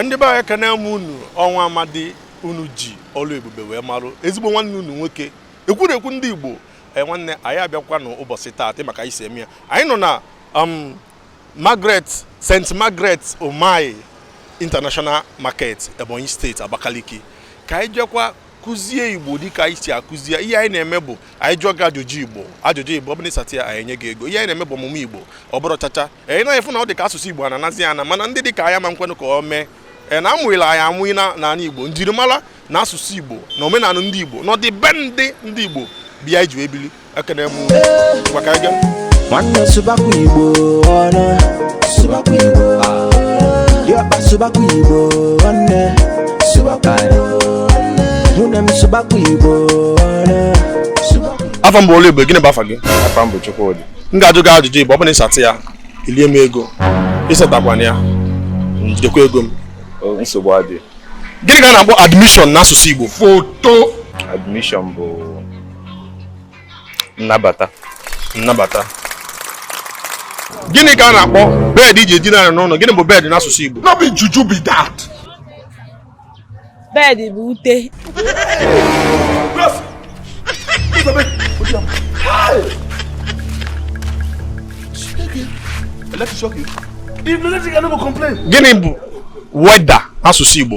ndị be anyị ekene m unu ọ nwa Amadi unu ji Ọlụebube wee marụ ezigbo nwanne unu nwoke ekwurekwu ndị igbo eh, nwanne anyị abịakwa n'ụbọchị taata ma ka anyị si eme ya anyị nọ na um, Margaret St Margaret Umahi International Market Ebonyi steeti Abakaliki ka anyị jekwa kụzie igbo dịka anyị si akụzie ihe anyị na-eme bụ anyị jụọ gị ajụjụ igbo ajụjụ igbo ọ bụna ị satị ya anyị enye gị ego ihe anyị na-eme bụ ọmụmụ igbo ọ bụrọ chacha anyị na-afụ na ọ dị ka asụsụ igbo na-anazi ana mana ndị dị ka anyị ama nkwenụ ka o mee e, na amụghịla anyị amụghị n'ala igbo njirimara na asụsụ igbo na omenala ndị igbo na ọdịbendị ndị igbo bịa iji ebili ekene m ngwa ka anyị gaa nwanne sụbakwa igbo ọnụ sụbakwa igbo diọkpa sụbakwa igbo nwanne sụbakwa igbo nwunye m sụbakwa igbo ọnụ sụbakwa igbo afa m bụ olu igbo gịnị bụ afa gị afa m bụ Chukwudi m ga-ajụ gị ajụjụ igbo ọ bụrụ na ị satị ya i lie m ego ị satakwana ya m jidekwa ego m O, nsogbu adị gịnị ka a na-akpọ admission n'asụsụ igbo foto admission bụ nnabata nnabata gịnị ka a na-akpọ bed e ji edina ala n'ụlọ gịnị bụ bed n'asụsụ Igbo no be juju be that bed bụ ute gịnị bụ weather n'asụsụ Igbo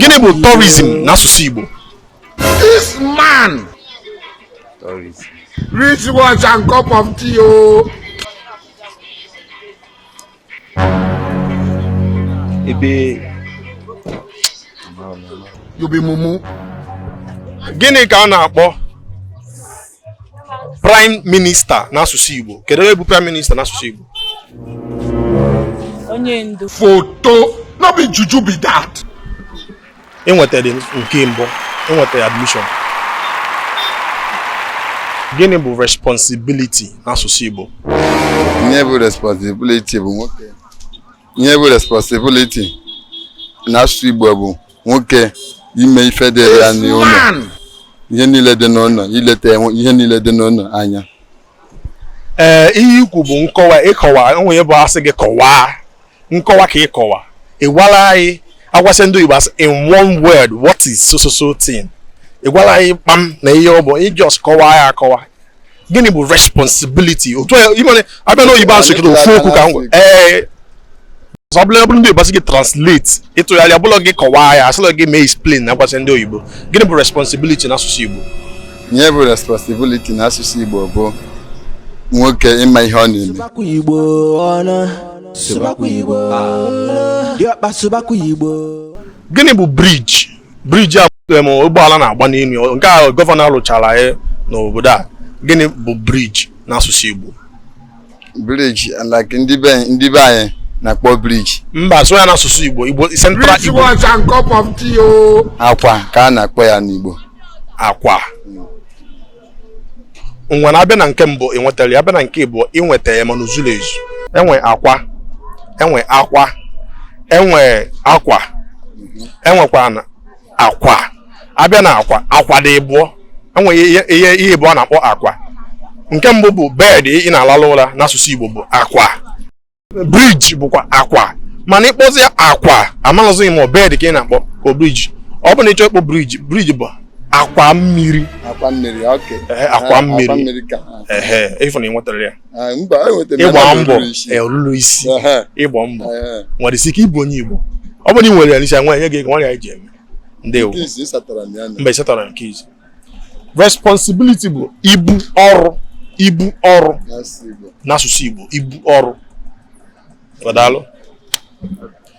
gịnị bụ tourism n'asụsụ Igbo this man tourism rich watch and cup of tea o oh. ebe you be mumu gịnị ka a na-akpọ prime minister n'asụsụ Igbo kedu ihe bụ prime minister n'asụsụ Igbo onye ndu foto no be juju be that ị nwetara nke mbụ ị nwetara admission gịnị bụ responsibility n'asụsụ Igbo ihe bụ responsibility bụ nwoke ihe bụ responsibility n'asụsụ Igbo bụ nwoke ime ife dị ya n'ụlọ ihe niile dị n'ụlọ ileta ihe niile dị n'ụlọ anya ee eh, ihe i kwu bụ nkọwa ịkọwa onwe bụ a sị gị kọwaa nkọwa ka ị kọwa ị gwarọ anyị agwasị ndị Igbo asị in one word what is so so so thing ị gwarọ anyị kpam na ihe ọ bụ ị just kọwaa ya akọwa gịnị bụ responsibility otu i mere abịa n'oyibo asụ kịta ofu okwu ka m gwa ee ọ bụla bụrụ ndị oyibo asị gị translate ịtụgharị abụlọ gị kọwaa ya asịlọ gị mee explain na agwasị ndị oyibo gịnị bụ responsibility na asụsụ igbo ihe bụ responsibility na asụsụ igbo bụ nwoke ịma ihe ọ na-eme gịnị bụ bridge bridge a ụgbọala na-agba n'elu nke a gọvanọ alụchara anyị n'obodo a gịnị bụ bridge n'asụsụ Igbo bridge like ndị be ndị be anyị na-akpọ bridge mba sụọ ya n'asụsụ Igbo Igbo central Igbo akwa ka a na-akpọ ya n'Igbo akwa ngwanụ abịa na nke mbụ ị nwetara ya abịa na nke ịbụọ ị nweta ya mana o zulọ ezu enwe akwa enwe akwa enwe akwa enwekwa akwa abịa na akwa akwa dị ịbụọ enwe ihe ihe ịbụọ na-akpọ akwa nke mbụ bụ bed ị na-alalụ ụra n'asụsụ Igbo bụ akwa bridge bụkwa akwa mana ịkpọzia akwa amalụzighị ma ọ bed ka ị na-akpọ ka bridge ọ bụ na ịchọ ịkpọ bridge bridge bụ akwa mmiri akwa mmiri okay akwa mmiri ịfụ na ị nwetara ya ịgba mbọ olulu isi ịgba mbọ nwere isi ike ịbụ onye Igbo ọ bụrụ na ị nwere ya n'isi nwa enye gị ego nwa ya ji eme ndewo mba ịsatara nke izizi responsibility bụ ibu ọrụ ibu ọrụ n'asụsụ Igbo ibu ọrụ daalụ